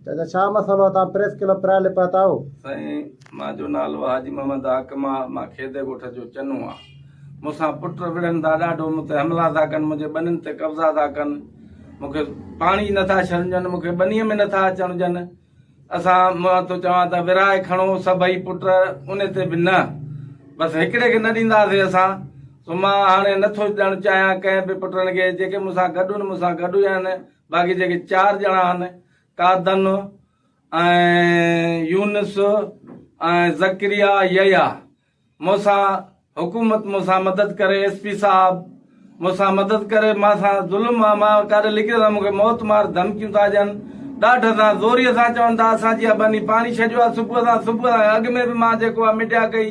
چيائين ته ڇا مسئلو آهي؟ توهان پريس ڪلب پرايل لي پهتا آهيو؟ سائين مان جو نالو حاجي محمد حاڪم آ مان کيدي ڳوٺ جو چنو آ مون سان پٽ وڙهن ٿا ڏاڍو مون تي حملا ٿا ڪن منهنجي ٻنين تي قبضا ٿا ڪن مون کي پاڻي نه ٿا ڇڏن ڏين مون کي ٻنيء ۾ نه ٿا اچڻ ڏين اسان مان ٿو چوان ته ورهائي کڻو سڀئي پٽ ان تي به نه بس هڪڙي کي نه ڏينداسين اسان سو مان هاڻي نه ٿو ڏيڻ چاهيان ڪنهن به پٽن کي جيڪي مون سان گڏ ان مون سان گڏ هئا آهن باقي جيڪي چار ڄڻا آهن قادن ۽ يونس ۽ زڪريا يحيٰ مون سان حڪومت مون سان مدد ڪري ايس پي صاحب مون سان مدد ڪري مان سان ظلم آ مان ڪاڏي لڪي سان مونکي موت مار ڌمڪيون ٿا ڏين ڏاڍ سان زوري سان چون ٿا اسان جي ابني پاڻي ڇڏيو آ صبح سان صبح اڳ ۾ به مان جيڪو آ مڊيا ڪئي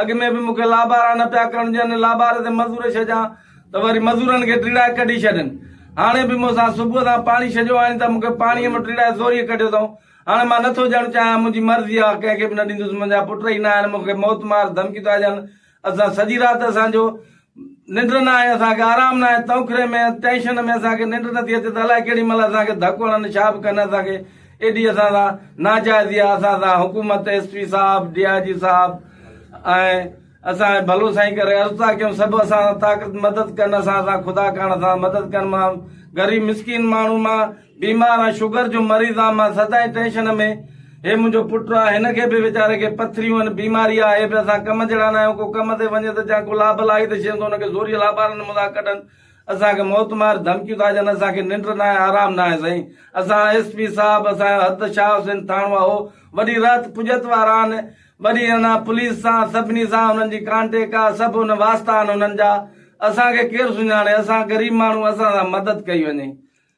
اڳ ۾ به مون کي لابارا نه پيا ڪرڻ ڏين، لاباري تي مزور ڇڏيان ته وري مزورن کي ٽيڙائي ڪڍي ڇڏين. هاڻي به مون سان صبح سان پاڻي ڇڏيو آهين ته مون کي پاڻيء مان ٽيڙائي زوريء ڪڍيو اٿئون. هاڻي مان نٿو ڏيڻ چاهيان، منهنجي مرضي آ، ڪنهن کي به نه ڏيندس، منهنجا پٽ ئي نه آهن، مون کي موت مار ڌمڪي ٿا ڏين. اسان سڄي رات اسان جو ننڊ نه آهي اسان کي آرام نه آهي تئونڪري ۾ ٽينشن ۾ اسان کي ننڊ نٿي اچي ته الاء ڪهڙي مهل اسان کي ڌڪ هڻن ڇا به ڪن اسان کي ايڏي اسان سان ناجائزي آهي اسان سان حڪومت ايس پي صاحب ڊي آء جي صاحب ۽ اسان ڀلو سائين ڪري عرض ٿا ڪيون سڀ اسان طاقت مدد ڪن اسان سان خدا ڪرڻ سان مدد ڪن مان غريب مسڪين ماڻهو مان بيمار آهيان شگر جو مريض آهيان مان سدائين ٽينشن ۾ هي منهنجو پٽ آهي هن کي به ويچاري کي پٿريون آهن بيماري آهي به اسان ڪم جهڙا ناهيون ڪو ڪم تي وڃي ته جا ڪو لاب لاهي ته شين ته ان کي زوريء لابارن منهنجا ڪڍن اسان کي موت مار ڌمڪيون ٿا ڏين اسان کي ننڊ ناهي آرام ناهي سائين اسان ايس پي صاحب اسان جو حد شاهه حسين ٿاڻو اهو وڏي رهت پڄت وارا آهن وڏي ان پوليس سان سڀني سان انهن جي ڪانٽيڪ آهي سڀ ان واسطا آهن انهن جا اسان کي ڪير سڃاڻي اسان غريب ماڻهو اسان سان مدد ڪئي وڃي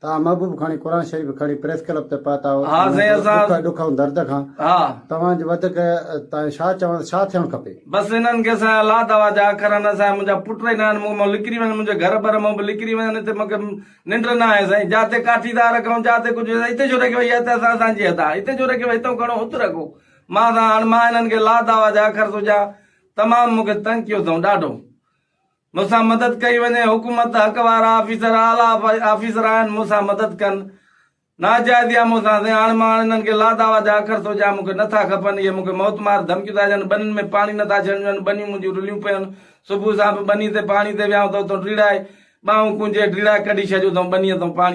توهان محبوب کڻي قرآن شريف کڻي پريس ڪلب تي پهتا آهو ها سائين اسان ڏک ڏک ۽ درد کان ها توهان جي وڌيڪ تان ڇا چوڻ ڇا ٿيڻ کپي. بس انهن کي سائين الله دعويٰ جا اکر آهن سائين منهنجا پٽ ئي نه آهن مون مان لڪري وڃن منهنجي گهر بر مان به لڪري وڃن هتي مون کي ننڊ نه آهي سائين جا تي ڪاٺي ٿا رکون جا تي ڪجهه هتي ڇو رکيو هي هٿ اسان اسان جي هٿ آهي هتي ڇو رکيو هي هتئون کڻو هت رکو مان سائين هاڻ مان انهن کي الله دعويٰ جا اکر ٿو ڏيان تمام مون کي تنگ ڪيو اٿئون ڏاڍو. مون سان مدد ڪئي وڃي حڪومت حق وارا آفيسر اعليٰ آفيسر آهن مون سان مدد ڪن ناجائز يا مون سان سين هاڻ مان انهن کي لا دعويٰ جا اکر سوجهيا مون کي نٿا کپن اهي مون کي موت مار ڌمڪيون ٿا ڏين ٻنين ۾ پاڻي نٿا ڇنڊجن ٻنيون منهنجيون رليون پيون صبح سان به ٻني تي پاڻي تي ويهان ته اتو ڊيڙائي ٻانهون ڪونجهي ڊيڙائي ڪڍي ڇڏيو اٿئون ٻنيء تان پاڻي